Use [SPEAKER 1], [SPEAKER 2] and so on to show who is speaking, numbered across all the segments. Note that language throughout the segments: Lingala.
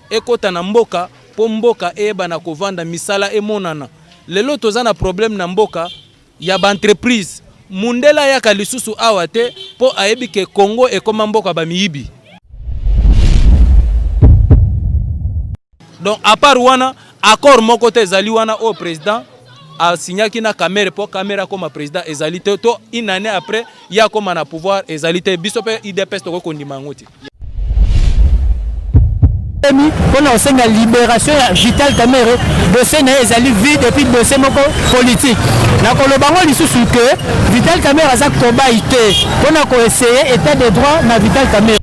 [SPEAKER 1] ekota na mboka po mboka eyebana kovanda misala emonana lelo toza na problème na mboka ya ba entreprise mundele ayaka lisusu awa te po ayebi ke Congo ekoma mboka ba miyibi donc à part wana accord moko te ezali wana oyo président asignaki na Kamerhe po Kamerhe akoma président ezali te to une année après ye akoma na pouvoir ezali te biso pe IDPS tokoki kondima yango te
[SPEAKER 2] mpona kosenga liberation ya vital kamere dosie na ye ezali vide epuis dosie moko politike nakoloba yango lisusu ke vital kamere aza kobai te mpona koeseye etat de droit na vital kamere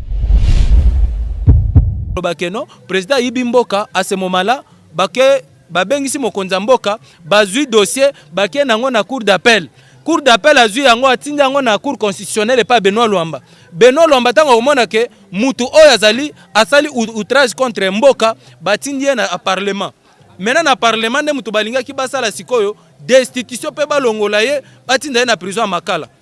[SPEAKER 1] bakeno président ayibi mboka asemomala bake babengisi mokonzi ya mboka bazwi dossier bakei na yango na cour d'appel cour d'appel azwi yango atindi yango na cour constitutionnelle epai benoit lwamba benoit lwamba ntango akomona ke mutu oyo azali asali outrage contre mboka batindi ye na parlement maintenant na parlement nde moto balingaki basala sikoyo destitution mpe balongola ye batinda ye na prison ya makala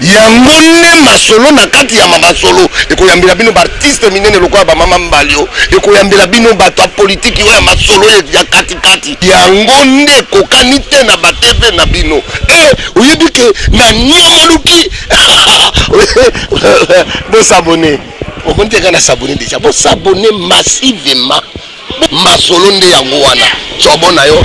[SPEAKER 3] Yango nde masolo na kati ya mamasolo ekoyambela bino ba artistes minene lokola ba mama Mbalio, ekoyambela bino bato ya politiki oyo ya masolo ya kati kati. Yango nde ekokani te na ba TV na bino. Eh oyebi que na niama luki Bo s'abonner. Omoni te nga na s'abonner dejà. Bo s'abonner massivement. Masolo nde yango wana. Tshiobo na yo.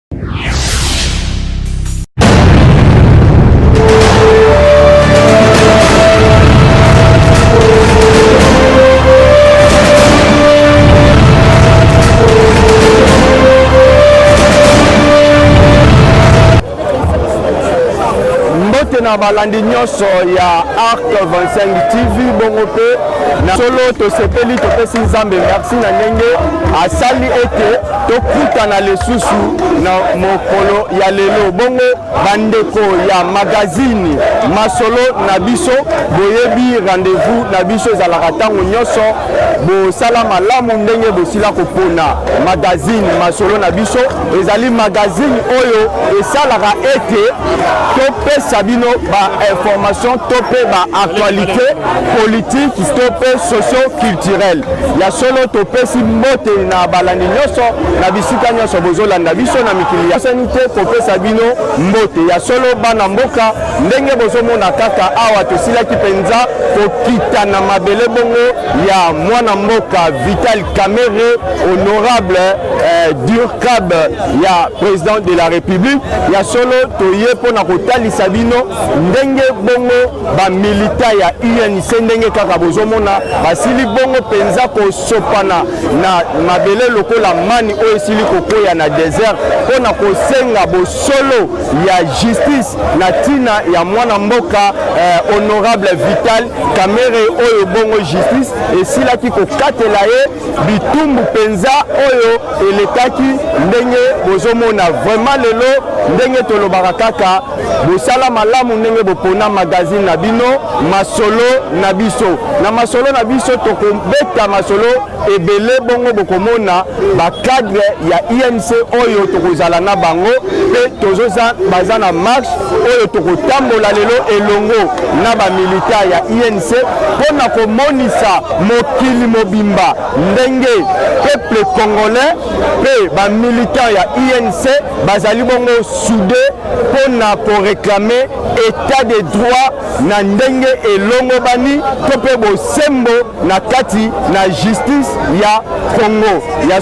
[SPEAKER 4] na balandi nyonso ya arc 25 tv bongo mpe na solo tosepeli topesi nzambe merci na ndenge asali ete tokutana lisusu na mokolo ya lelo bongo bandeko ya magazini masolo na biso boyebi rendez-vous na biso ezalaka ntango nyonso bosala malamu ndenge bosila kopona magazini masolo na biso ezali magazini oyo esalaka ete topesa bino bainformation to mpe baaktualité politike to mpe socio-culturelle Ya solo topesi mbote na balandi nyonso na bisika nyonso bozolanda biso na mikili ya sani te kopesa bino mbote ya solo bana mboka ndenge bozomona kaka awa tosilaki mpenza kokita na mabele bongo ya mwana mboka Vital Kamerhe honorable eh, Durkab ya president de la République ya solo toye mpo na kotalisa bino ndenge bongo ba milita ya UNC ndenge kaka bozomona basili bongo mpenza kosopana na mabele lokola mani oyo esili kokwea na desert mpo na kosenga bosolo ya justice na ntina ya mwana mboka eh, honorable Vital Kamerhe oyo bongo justice esilaki kokatela ye bitumbu mpenza oyo elekaki ndenge bozomona vraiment lelo ndenge tolobaka kaka bosala malamu ndenge bopona magazine na bino masolo na biso na masolo na biso tokobeta masolo ebele bongo bokomona bacadre ya inc oyo tokozala na bango mpe baza na marche oyo tokotambola lelo elongo na bamilita ya inc mpo na komonisa mokili mobimba ndenge peuple congolais mpe bamilitant ya unc bazali bongo soude mpo na koreklame etat de droit na ndenge elongobani to mpe bosembo na kati na justice ya congo ya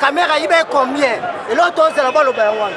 [SPEAKER 5] kamera ibe combien eloko tozela baloba yango wana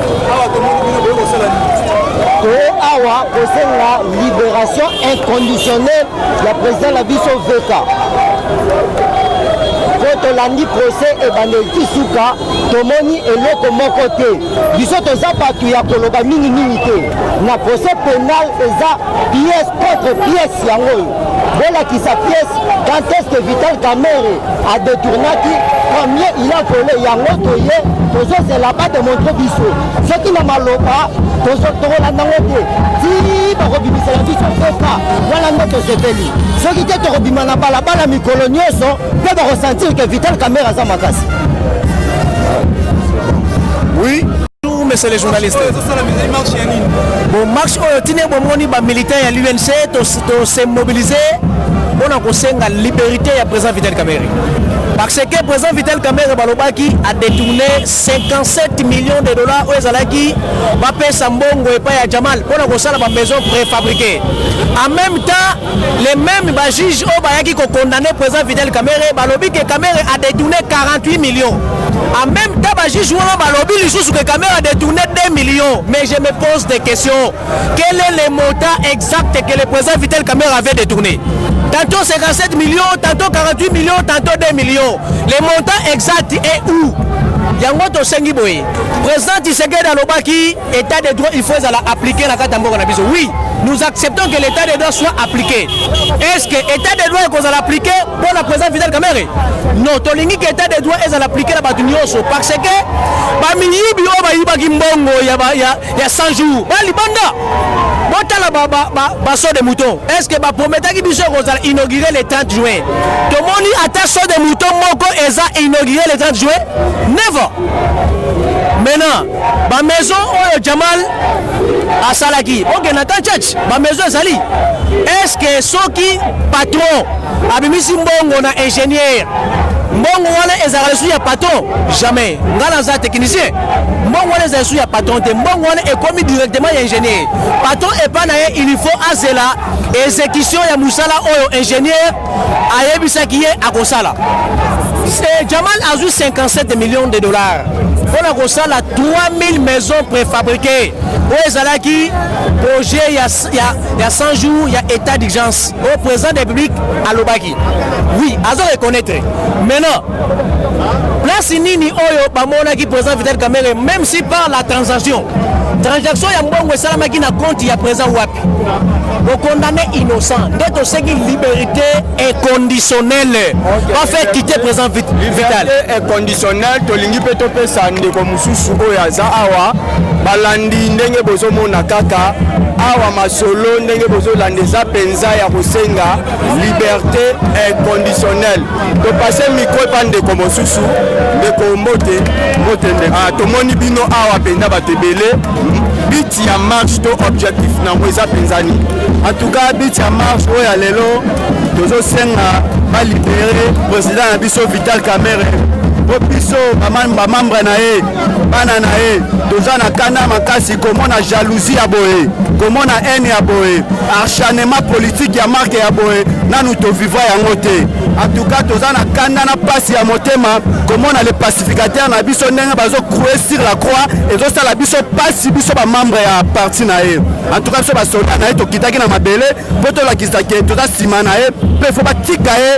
[SPEAKER 6] awa kosenga liberation inconditionnelle ya président na biso veka mpo tolandi procès ebandeli ti suka tomoni eloko moko te biso toza bato ya koloba mingimingi te na procès pénal eza pièce contre pièce yango oyo bolakisa pièce quand est-ce que Vital Kamerhe a détournaki combien il a volé yango toye tozozela ba démontre biso soki na maloba tokolanda ngo te ti bakobimisela biso mpoka wana nde tosepeli soki te tokobima na balabala mikolo nyonso mpe bakosentir ke Vital Kamerhe aza makasi
[SPEAKER 2] oui monsieur le journaliste bon marche oyo tine bomoni bamilitaire ya l'unc To se mobiliser mpo na kosenga liberite ya président Vital Kamerhe parce que président Vital Kamerhe balobaki a détourné 57 millions de dollars oyo ezalaki bapesa mbongo epai ya Jamal mpo na kosala ba maison préfabriquée en même temps les mêmes bajuge oyo bayaki kokondamne président Vital Kamerhe balobi ke Kamerhe a détourné 48 millions en même temps bajuge wana balobi lisusu ke Kamerhe a détourné 2 millions mais je me pose des questions Quel est le montant exact que le président Vital Kamere avait détourné Tantôt 57 millions, tantôt 48 millions, tantôt 2 millions. Le montant exact est où yango tosengi boye président tshisekedi alobaki état de droit il faut ezala appliqué na kati ya mboka na biso oui nous acceptons que l'état de droit soit appliqué est ce que état de droit ekozala appliqué mpo na président vital kamere non tolingi ke état de droit ezala appliqué na bato nyonso parce que bamiyibi oyo bayibaki mbongo ya, ya, ya 100 jours ba libanda botala ba, ba, ba, ba saut de mouton est ce que ba prometaki biso ekozala inauguré le 30 juin tomoni ata saut de mouton moko eza inauguré le 30 juin never maintenant ba maison oyo jamal asalaki bokenda ata church ba maison ezali est ce que soki patron abimisi mbongo na ingénieur mbongo wana ezalaka lisusu ya patron jamais ngai naza technicien mbongo wana ezali su ya patron te mbongo wana ekomi directement ya ingénieur patron epa na ye il faut azela exécution ya mosala oyo ingénieur ayebisaki ye akosala eh, jamal azwi 57 millions de dollars mpo na kosala 3000 maisons préfabriquées oyo ezalaki projet ya, ya, ya 100 jours ya état d'urgence oyo président de république alobaki Oui, azo reconnaître. Maintenant, place nini oyo bamonaki président Vital Kamerhe même si par la transaction transaction ya mbongo esalamaki na compte ya président wapi bokondamne innocent nde toseki liberté inconditionnelle bafe kite président vital
[SPEAKER 4] inconditionnel tolingi mpe topesa ndeko mosusu oyo aza awa balandi ndenge bozomona kaka awa masolo ndenge bozolanda eza mpenza ya kosenga liberte inconditionnelle topase mikro epa ndeko mosusu ndeko mbote ah, tomoni bino awa mpenza bato ebele biti ya marche to objectif nango eza mpenza nini antuka biti ya marche oyo ya lelo tozosenga balibere président na biso vital camere mpo biso bamambre na ye bana na ye toza na kanda makasi komona jalousie ya boye komona haine ya boye acharnement politique ya marke ya boye nanu tovivra yango te atuka toza na kanda na pasi ya motema komona le pacificateur na biso ndenge bazo croue sur la croix ezosala biso pasi biso bamembre ya parti na ye antuka biso basoldat na ye tokitaki na mabele mpo tolakisa ke toza nsima na ye mpe fo batika ye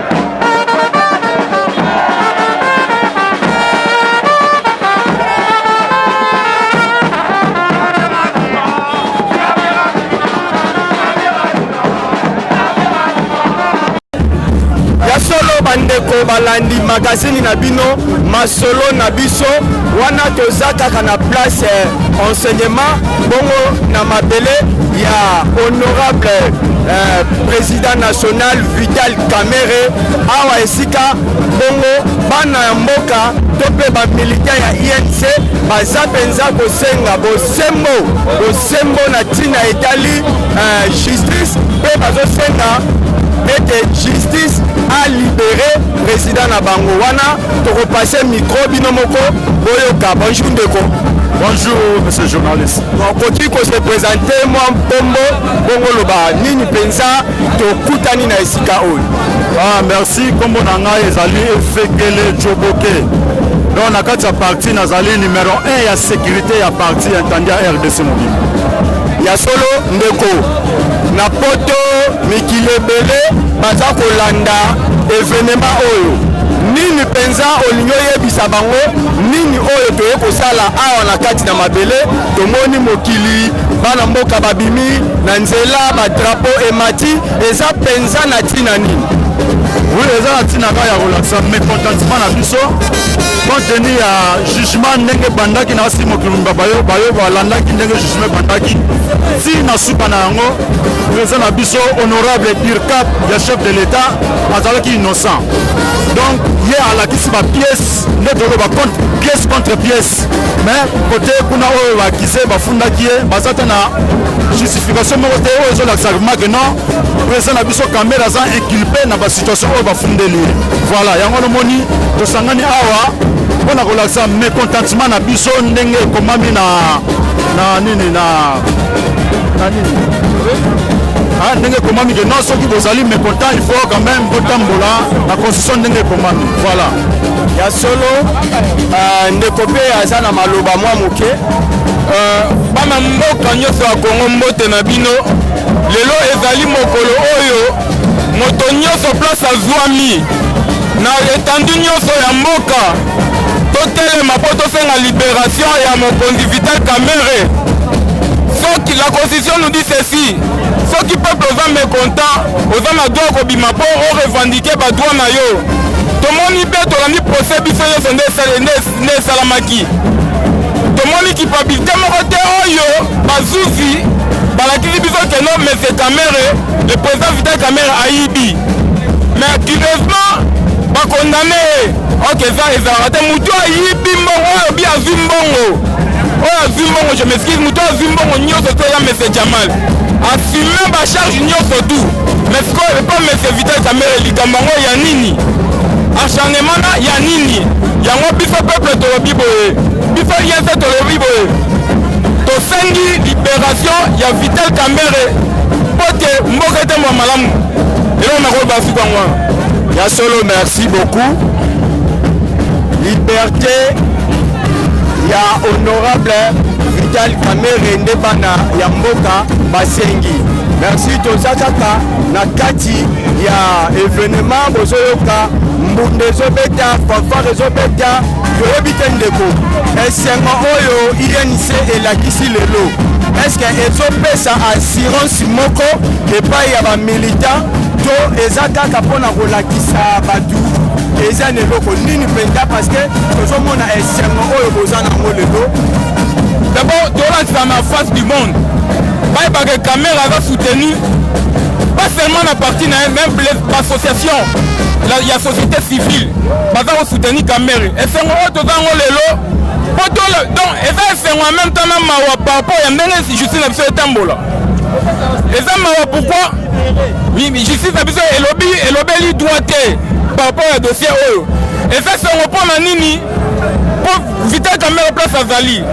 [SPEAKER 4] bandeko balandi magazini na bino masolo na biso wana toza kaka na place eh, enseignement bongo na mabele ya honorable eh, président national Vital Kamerhe awa esika bongo bana ya mboka to mpe bamilita ya INC baza mpenza kosenga bosembo bosembo na ntina etali uh, justice mpe bazosenga ete justice alibere president na bango wana tokopase mikro bino moko boyoka bonjour ndeko Bonjour, monsieur
[SPEAKER 7] le journaliste. Okoki ko se
[SPEAKER 4] présenter mwa nkombo bongo loba nini mpenza tokutani na esika oyo ah, merci
[SPEAKER 7] nkombo na ngai ezali efekele joboke donc na kati ya parti nazali numero 1 ya sécurité ya parti ya ntandi ya rdc mobimba ya solo
[SPEAKER 4] ndeko na poto mikili ebele baza kolanda evenema oyo nini mpenza olingi oyebisa bango nini oyo toye kosala awa na kati na mabele tomoni mokili bana mboka babimi na nzela ba drapeau emati eza penza na tina nini oui eza
[SPEAKER 7] na ntina kaka ya kolakisa mécontentement na biso compte tenu ya jugement ndenge ebandaki na basi mokili mobimba bayo bayo balandaki ndenge jugement ebandaki ti na suka na yango président na biso honorable dircap ya chef de l'état azalaki innocent donc ye alakisi bapièce nde toloba contre pièce contre pièce mais kote kuna oyo bakize bafundaki ye baza te na justification moko te oyo ezolakisa vraiment que non président na biso kamere aza inculpe na basituation oyo bafundeli ye voilà yango nomoni tosangani awa mpo na kolakisa mécontentement na biso ndenge ekomami na na nini na na nini ah, ndenge ekomami ke non soki bozali mécontent il faut quand même botambola na constitution ndenge ekomami voilà ya solo
[SPEAKER 4] uh, ndeko mpe aza na maloba mwa moke uh,
[SPEAKER 8] bana mboka nyonso ya kongo mbote na bino lelo ezali mokolo oyo moto nyonso place azwami na etandu nyonso ya mboka totelema mpo tosenga liberation ya mokonzi vital kamere soki la constitution nous dit ceci soki peuple oza mécontent oza na droit kobima mpo orevendike badroit na yo tomoni mpe tolandi procès biso nyonso nde esalamaki tomoni kipabilite moko te oyo bazuzi balakisi biso keno mese kamere le président vital kamere ayibi mais curieusement bakondane ye ok eza ezalaka te motu ayibi mbongo oyo bi azwi mbongo oyo azwi mbongo je m'excuse motu azwi mbongo nyonso te eza mese jamal assume bacharge nyonso tout Mais sikoyo epa monsieur Vital Kamerhe likambo yango ya nini? Acharnement na ya nini? Yango biso peuple tolobi boye, biso INC tolobi boye, tosengi liberation ya Vital Kamerhe mpo te mboka etambwa malamu. Eloko nakoloba suka yango wana. Ya solo,
[SPEAKER 4] merci beaucoup. Liberté ya honorable Vital Kamerhe nde bana ya mboka basengi. Merci toza kaka na kati ya evenement bozoyoka mbunda ezobeta fanfare ezobeta toyebi te ndeko esengo oyo inc elakisi lelo eske ezopesa assurance moko epai ya bamilitant to eza kaka mpo na kolakisa bato eza na eloko nini mpenza parce que tozomona esengo oyo boza nango lelo d'abord
[SPEAKER 8] tolandisa na face du monde bayebaka ke kamere aza soutenu pas seulement na parti na ye même bassociation ya société civile baza kosoutenir kamere esengo oyo toza yango lelo po donc eza esengo ya meme temps na mawa par rapport ya ndenge justice na biso etambola eza mawa pourkui justice na biso elobi elobeli droit te par rapport ya dossier oyo eza sengo mpo na nini po vital camera place azali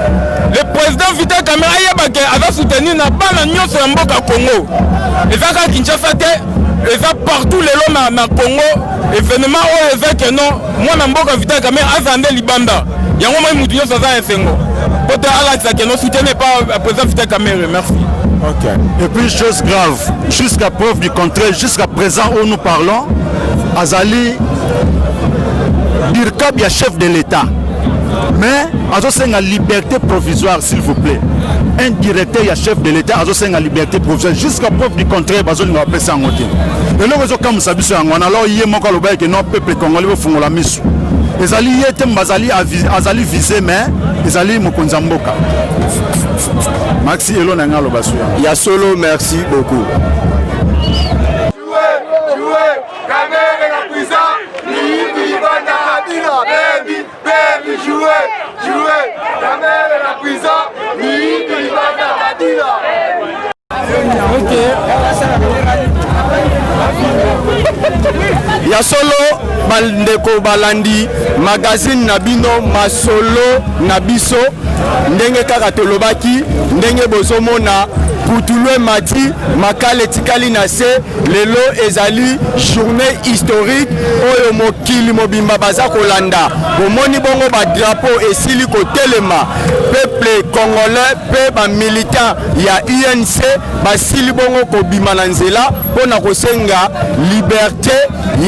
[SPEAKER 8] le président vital camera ayeba ke aza soutenir na bana nyonso ya mboka congo eza kaka kinshasa te eza partout lelo na, na congo événement oyo eza ke non mwana mboka vital camera azala nde libanda yango moi motu nyonso aza esengo po te alakisa ke non soutien epa euh, président vital camera merci Ok. Et
[SPEAKER 7] puis, chose grave, jusqu'à preuve du contraire, jusqu'à présent où nous parlons, Azali birkab ya chef de l'etat mais azosenga liberté provisoire s'il vous plaît un directeur ya chef de l'état azosenga liberté provisoire jusqu'à preuve du contraire bazolinga bapesa yango te eloko ezokamwisa biso yango wana alors ye moko alobaki ke non peuple congolais bofungola miso ezali ye te bazali azali vise mais ezali mokonzi ya mboka maxi elo na ngai aloba suya ya solo merci
[SPEAKER 4] beaucoup Kamere na prison,
[SPEAKER 8] miyibi libanda Kabila, baby, baby, jouer, jouer. Kamere na prison, miyibi libanda Kabila. ya solo bandeko balandi magazine na bino masolo na biso ndenge kaka tolobaki ndenge bozomona putulwe mati makala etikali na se Lelo ezali journee historique oyo mokili mobimba baza kolanda. Bomoni bongo ba drapeau esili kotelema, peuple congolais pe ba militants ya UNC basili bongo kobima na nzela mpo na kosenga liberte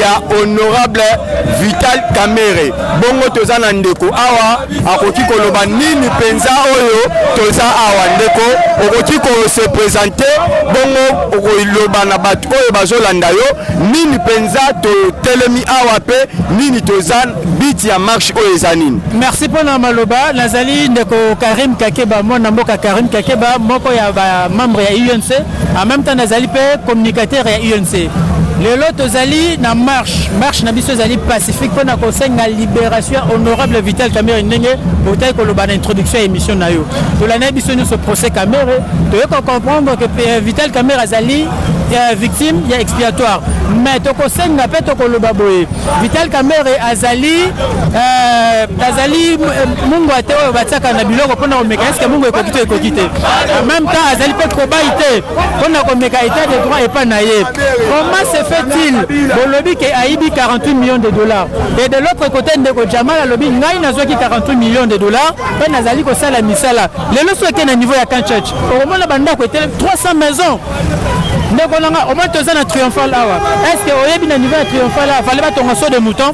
[SPEAKER 8] ya honorable Vital Kamerhe. Bongo toza na ndeko awa akoki koloba nini mpenza oyo toza awa ndeko okoki kose presente bongo okoloba na bato oyo bazolanda yo nini mpenza totelemi awa mpe nini toza biti ya marche oyo eza nini merci mpo na maloba
[SPEAKER 2] nazali ndeko karim kakeba mwana mboka karim kakeba moko ya bamembre ya unc En même temps nazali mpe communicateur ya UNC. Lelo tozali na marche, marche na biso ezali pacifique mpo na kosenga liberation ya honorable Vital Kamerhe ndenge otaki koloba na introduction ya émission na yo. Tolandaki biso nyonso procès Kamerhe, toyei ko comprendre que euh, Vital Kamerhe azali euh, victime ya expiatoire mais tokosenga mpe tokoloba boye vital kamere azali euh, azali euh, mungu ate oyo batiaka na biloko mpona komeka eske mungu ekoki to ekoki te en même temps azali mpe kobai te mpo na komeka état de droit epai na ye comment se fait-il bolobi ke ayibi 48 millions de dollars et de l'autre côté ndeko jamal alobi ngai nazwaki 48 millions de dollars mpe nazali kosala misala lelo soki eke na niveau ya camp church okomona bandako etele 300 maisons ndeko nanga omoni toza na triomphal awa est ce que oyebi na niveau ya triomphal awa fale batonga so de mouton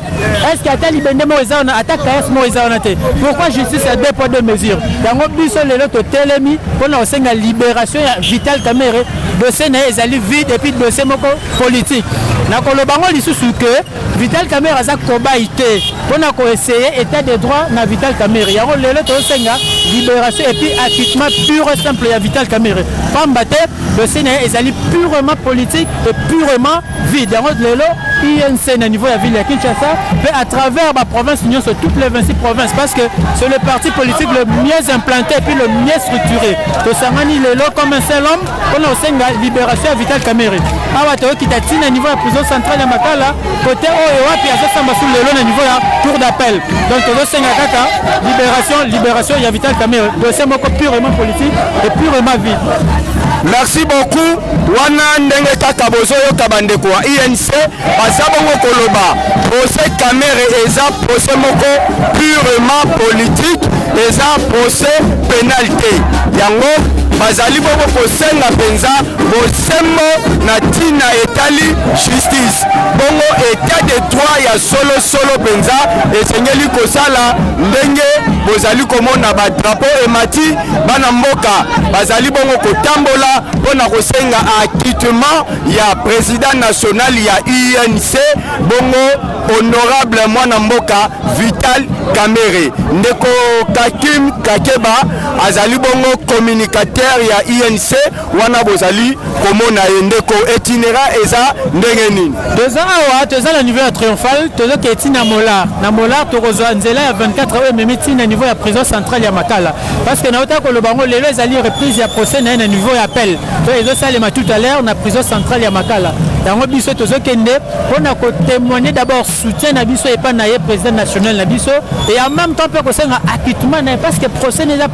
[SPEAKER 2] Est-ce que ata libende moko eza wana ata kayas moko eza wana te pourquoi justice ya deux poids deux mesures yango biso lelo totelemi mpo na kosenga libération ya vital kamere dossier na ye ezali vide epuis dossier moko politique nakoloba yango lisusu ke vital kamere aza kobai te mpo na koeseye état de droit na vital kamere yango lelo tozosenga libération epuis acquittement pure simple ya vital kamere pamba te dossier na ye ezali purement politique et purement vide yango lelo inc na niveau ya ville ya kinshasa mpe à travers baprovince nyonso toutes les 26 provinces parce que c'est le parti politique le mieux implanté puis le mieux structuré tosangani lelo comme un seul homme mpona kosenga libération ya vital camere awa toyokita ntina niveau ya prison centrale ya makala kote oyo wapi azosamba su lelo na niveau ya tour d'appel donc tozosenga kaka libération libération ya vital camere dossier moko purement politique et purement vide merci
[SPEAKER 8] beaucoup Wana ndenge kaka bozoyoka bandeko ya UNC baza bongo koloba, procès Kamerhe eza procès moko purement politique, eza procès penal te. Yango bazali bongo kosenga mpenza bosembo na ntina etali justice. Bongo etat de droit ya solo solo mpenza esengeli kosala ndenge bozali komona ba drapeaux emati, bana mboka bazali bongo kotambola mpo na kosenga acquittement ya president national ya UNC bongo honorable mwana mboka Vital Kamerhe. Ndeko Kakim Kakeba azali bongo communicateur ya UNC wana bozali komona ye ndeko etinera eza ndenge nini? Toza awa toza
[SPEAKER 2] na niveau ya triomphal tozoketi na molar na molar tokozwa nzela ya 24 oyo ememi ntina niveau ya prison centrale ya Makala parce que nauta koloba yango lelo ezali reprise ya procès na ye na niveau ya appel oyo ezosalema tout à l'heure na prison centrale ya makala yango biso tozokende mpo na kotémoigne d'abord soutien na biso epai na ye président national na biso et en même temps mpe kosenga acquittement na ye parce que procès na eza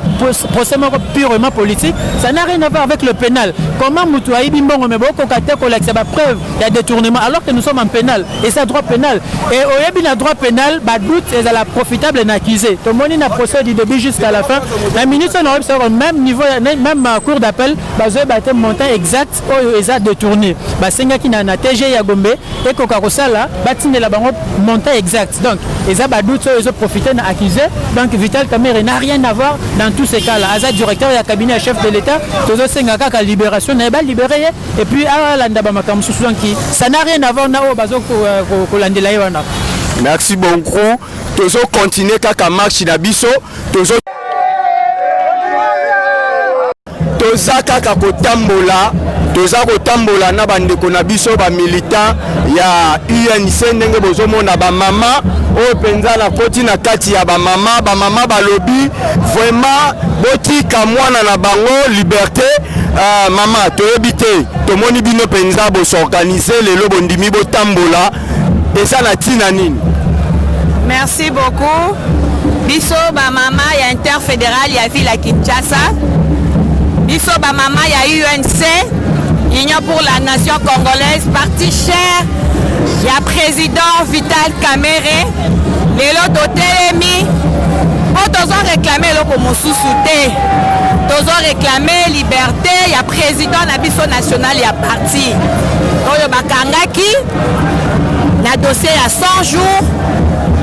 [SPEAKER 2] procès moko purement politique ça n'a rien à voir avec le pénal comment motu ayibi mbongo me bokoka te kolakisa bapreuve ya detournement alors que nous sommes en pénal et ça droit pénal et oyebi na droit pénal ba doute ezala profitable na accusé tomoni na procès du début jusqu'à la fin la ministre na oyebisa ko même niveau même euh, cour d'appel bazoyeba te montant exact oyo eza détourné basengaki na na TG ya Gombe ekoka kosala batindela bango montant exact donc eza ba doute oyo ezo profiter na accusé donc Vital Kamerhe n'a rien à voir dans tous ces cas là aza directeur ya cabinet ya chef de l'État tozosenga kaka libération na ye ba libérer et puis alanda ba makambo mosusu donc ça n'a rien à voir na oyo bazo kolandela ye wana merci
[SPEAKER 4] beaucoup tozo continuer kaka marche na biso tozo toza kaka kotambola toza kotambola na bandeko na biso bamilitant ya UNC ndenge bozomona bamama oyo mpenza nakoti na kati ya bamama bamama balobi vraiment botika mwana na bango liberte uh, mama toyebi te tomoni bino mpenza bosorganize lelo bondimi botambola eza na ntina nini merci
[SPEAKER 9] beaucoup biso bamama ya interfédéral ya ville ya kinshasa biso bamama ya unc Union pour la nation congolaise, parti cher ya président Vital Kamerhe. Lelo totelemi mpo tozo reklame eloko mosusu te, tozo reklame liberte ya président na biso national ya parti oyo bakangaki na dossier ya 100 jours.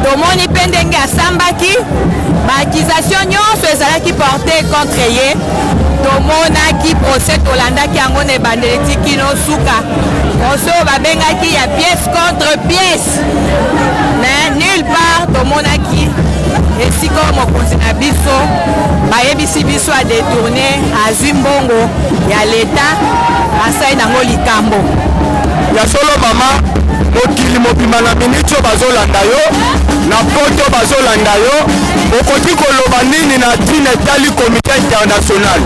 [SPEAKER 9] Tomoni mpe ndenge asambaki, ba accusation nyonso ezalaki porte contre ye. tomonaki procès tolandaki yango na ebandeli ti kino suka procès oyo babengaki ya pièce contre pièce mais nulle part tomonaki esika oyo mokonzi na biso bayebisi biso adetourne azwi mbongo ya leta asali nango likambo ya
[SPEAKER 4] solo mama mokili mobima na miniti oyo bazolanda yo na poto bazolanda yo Okoki koloba nini na ntina etali komite international?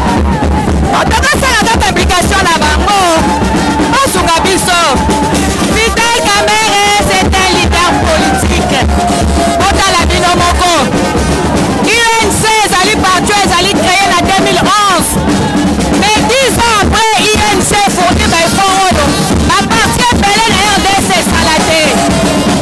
[SPEAKER 4] Bato
[SPEAKER 9] basala kaka application na bango basuka biso. Vital Kamerhe c'est un leader politique. Botala bino moko. UNC ezali parti oyo ezali cree na 2011 mais 10 ans après UNC fourni ba effort oyo ba parti ebele na RDC esala te.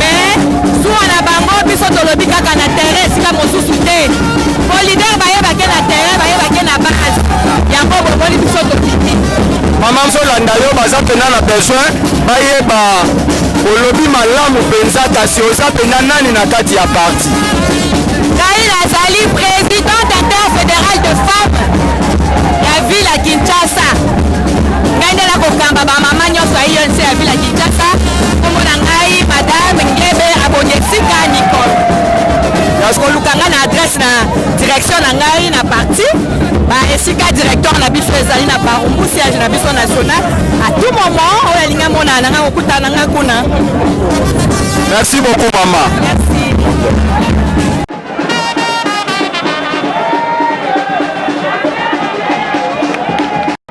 [SPEAKER 9] mais zuwa na bango biso tolobi kaka na terrain esika mosusu te po leader bayebake na terrain bayebake na base yango bomoni biso tokiti mama
[SPEAKER 4] nzolanda yo baza mpena na besoin bayeba olobi malamu mpenza kasi oza mpena nani na kati ya parti ngai
[SPEAKER 9] nazali présidente interfédérale de femme ya ville ya kinshasa ngai nde nakokamba bamama nyonso ya inc ya ville Kinshasa, kombo na ngai madame Ngebe Abonye Sika Nicole. Donc koluka ngai na adresse na direction na ngai na parti ba esika directeur na biso ezali na Barumbu siège na biso national. À tout moment oyo alingi amona na ngai kokutana ngai kuna.
[SPEAKER 4] Merci beaucoup mama. Merci.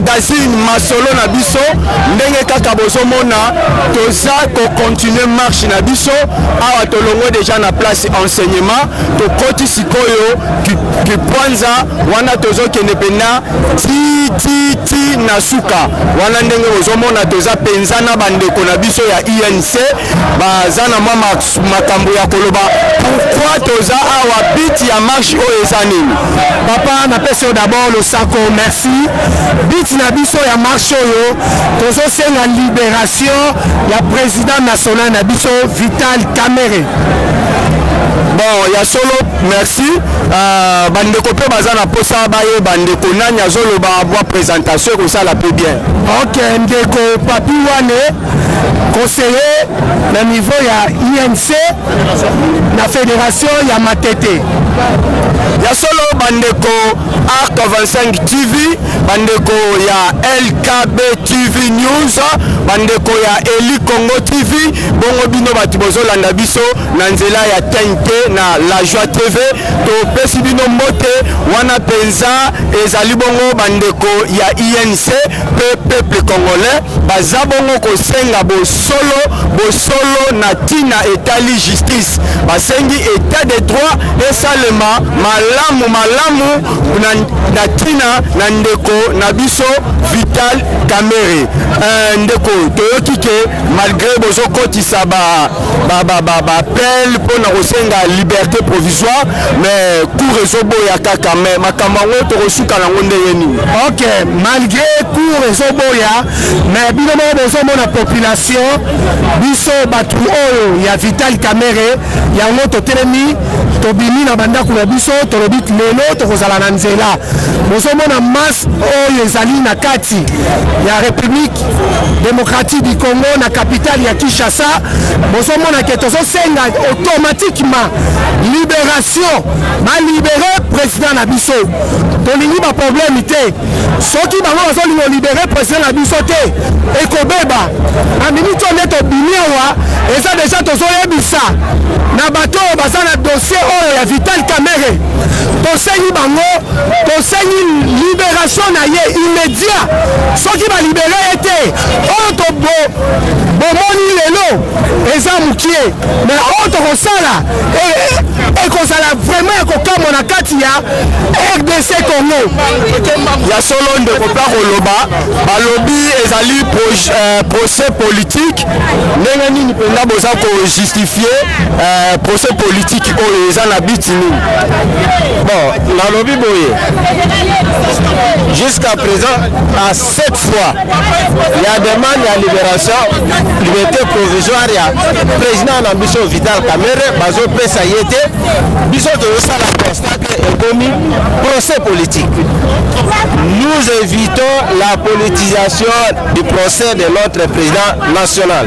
[SPEAKER 4] magazine masolo na biso ndenge kaka bozomona toza kocontinue marche na biso awa tolongo deja na place enseignement tokoti sikoyo Kipwanza wana tozokende mpenza ti ti ti na suka wana, ndenge bozomona toza mpenza na bandeko na biso ya UNC baza na mwa makambo ya koloba. Pourquoi toza awa? Biti ya
[SPEAKER 2] marche
[SPEAKER 4] oyo
[SPEAKER 2] eza
[SPEAKER 4] nini? Papa, napesi yo
[SPEAKER 2] d'abord losako,
[SPEAKER 4] merci.
[SPEAKER 2] Biti na biso ya marche oyo tozosenga liberation ya president national na biso Vital Kamerhe.
[SPEAKER 7] Bon, ya solo merci uh, bandeko mpe baza na mposa bayeba ndeko nani azoloba bwa présentation ekosala mpe bien ok ndeko
[SPEAKER 2] papi wane conseiller na niveau ya inc na fédération ya matete
[SPEAKER 7] ya solo bandeko arc 25 tv bandeko ya lkb tv news bandeko ya eli congo tv bongo bino bato bozolanda biso na nzela ya TNT na La Joie TV topesi bino mbote wana mpenza ezali bongo bandeko ya INC mpe peuple congolais baza bongo kosenga bosolo bosolo na ntina etali justice basengi etat de droit esalema malamu malamu na ntina na ndeko na biso Vital Kamerhe. Euh, ndeko toyoki ke malgre bozokotisa ba baappel mpo na kosenga liberté provisoire mais cour ezoboya kaka mais makambo yango tokosuka nango ndenge nini ok malgré
[SPEAKER 2] cour ezoboya mais bino moko bozomona population biso bato oyo ya vital camere yango totelemi tobimi na bandako na biso tolobi lelo tokozala na nzela bozomona masse oyo ezali na kati ya république démocratique du Congo na capitale ya Kinshasa bozomona ke tozosenga automatiquement libération balibere président na biso tolingi baproblème te soki bango bazolinga olibere président na biso te ekobeba na miniti oyo nde tobimi awa eza deja tozoyebisa na bato oyo baza na dossier oyo ya vital kamere tosengi bango tosengi liberation na ye immédiat soki balibere ye te oyo tobo bomoni lelo eza mokie me oyo tokosala ekozala e vraiment ya kokamwa na kati ya rdc congo ya
[SPEAKER 7] solo ndeko mpe koloba balobi ezali euh, procès politique ndenge nini mpenza boza kojustifie euh, procès politique oyo eza na biti nini bon
[SPEAKER 4] nalobi boye jusqu'à présent à sept fois ya demande ya libération liberté provisoire ya président na biso vital kamere bazopesa ye te biso tozosala constat te ekomi procès politique nous évitons la politisation du procès de notre président national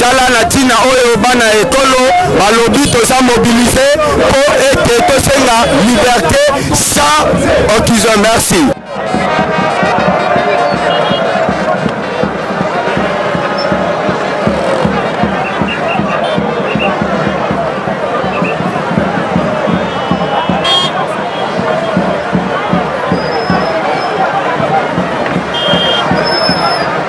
[SPEAKER 7] tala na ntina oyo bana ya ekolo balobi toza mobilise mpo ete tosenga liberte sans occasion merci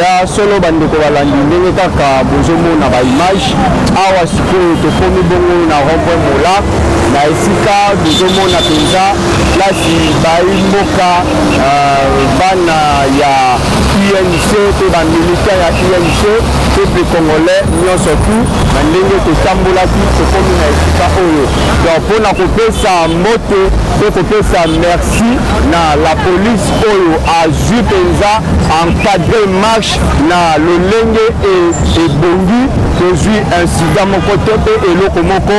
[SPEAKER 4] ya solo bandeko balandi ndenge kaka bozomona baimage awa sikoyo tokomi bongo na rond-point mola na esika tozomona mpenza plasi baimboka euh, bana ya UNC mpe bamilita ya UNC peuple congolais nyonso tu na ndenge totambolaki tokomi na esika oyo donc mpo na kopesa mbote mpe kopesa merci Merci na la police oyo azui penza encadre marche na lolenge ebongi, tozui incident moko te pe eloko moko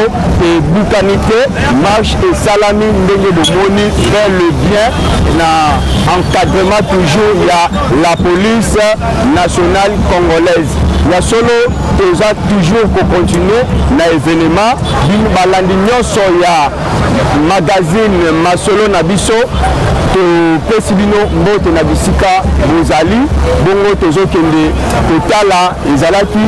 [SPEAKER 4] ebukani te, marche esalami ndenge bomoni très le bien na encadrement toujours ya la police nationale congolaise. Ya solo toza toujours ko continuer na evenement, balandi nionso ya magazine masolo na biso topesi bino mbote na bisika bozali bongo tozokende kotala ezalaki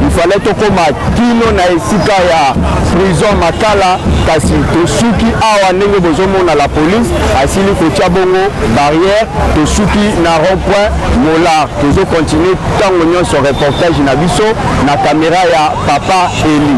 [SPEAKER 4] ifale tokoma kino na esika ya prison makala kasi tosuki awa ndenge bozomona la police asili kotya bongo barrière tosuki na rond point molar tozokontinue ntango nyonso reportage na biso na kamera ya papa eli